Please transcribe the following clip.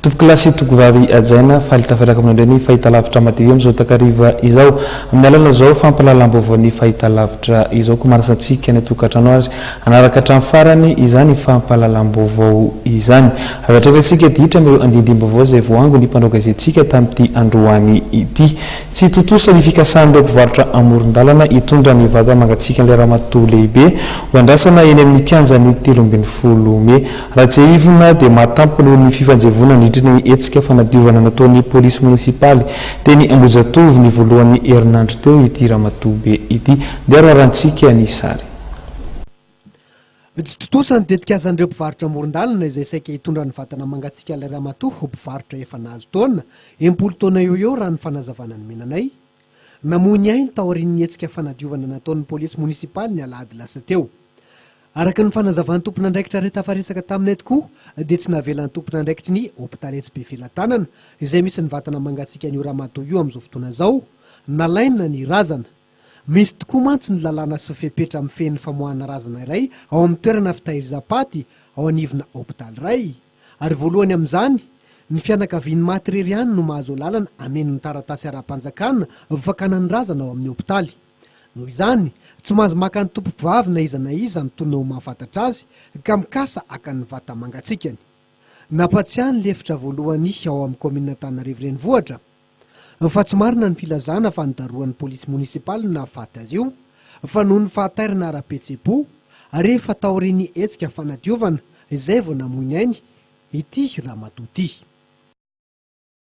Tompokolahy sy tokovavy hajaina, faly tafataka mandray ny fahitalavitra madio amin'izao takariva izao. Amin'ny alalan'izao fampahalalam-baovao ny fahitalavitra izao koa manasa antsika any an-tokantrano ary hanaraka hatramin'ny farany izany fampahalalam-baovao izany. Avy hatrany isika dia hiditra amin'ireo andindim-baovao izay voaangon'ny mpanao gazetintsika tamin'ity androany ity. Tsy tontosa ny fikasan'ireo mpivarotra amoron-dalana hitondra ny vata mangatsiakan'ilay ramatoa lehibe ho andrasana eny amin'ny kianjan'ny telo ambin'ny folo mey Rajaeivona dia mahatampoka noho ny fifanjevoana nandritra ny hetsika fanadiovana nataon'ny polisy monisipaly teny Ambohijatovo ny voalohan'ny herinandro teo ity ramatoa be ity. Ndeha roarantsika ny sary. Tsy tontosa ny tetikazan'ireo mpivarotra amoron-dalana izay saika hitondra ny vatana mangatsiaka ilay ramatoa ho mpivarotra efa nahazo taona, enimpolo taona eo ho eo raha ny fanazavana nomenanay. Namoy ny ainy taorian'ny hetsika fanadiovana nataon'ny polisy monisipaly ny alahady lasa teo. Araka ny fanazavan'ny tompon'andraikitra iray tafaresaka taminay tokoa dia tsy navelan'ny tompon'andraikitry ny hopitaly etsy Befelatanana izay misy ny vatana mangatsiakan'io ramatoa io amin'izao fotoana izao nalaina ny razana. Misy tokoa mantsy ny lalàna sy fepetra mifehy ny famoahana razana iray ao amin'ny toerana fitahirizam-paty ao anivona hopitaly iray. Ary voalohany amin'izany, ny fianakavian'ny maty irery ihany no mahazo alalana hameno ny taratasy ara-panjakana ho fakana ny razana ao amin'ny hopitaly. Noho izany, tsy mahazo maka ny tompovavy na iza na iza mitoana ho mahafantatra azy ka mikasa haka ny vata-mangatsiakany. Nampatsiahy ny lefitra voalohany ao amin'ny kaominina Antananarivo Renivohitra, fa tsy marina ny filazana fa nidarohan'ny polisy monisipaly ny nahafaty azy io fa noho ny fahatairana ara-pihetseham-po ary efa taorian'ny hetsika fanadiovana izay vao namoy ny ainy ity ramatoa ity.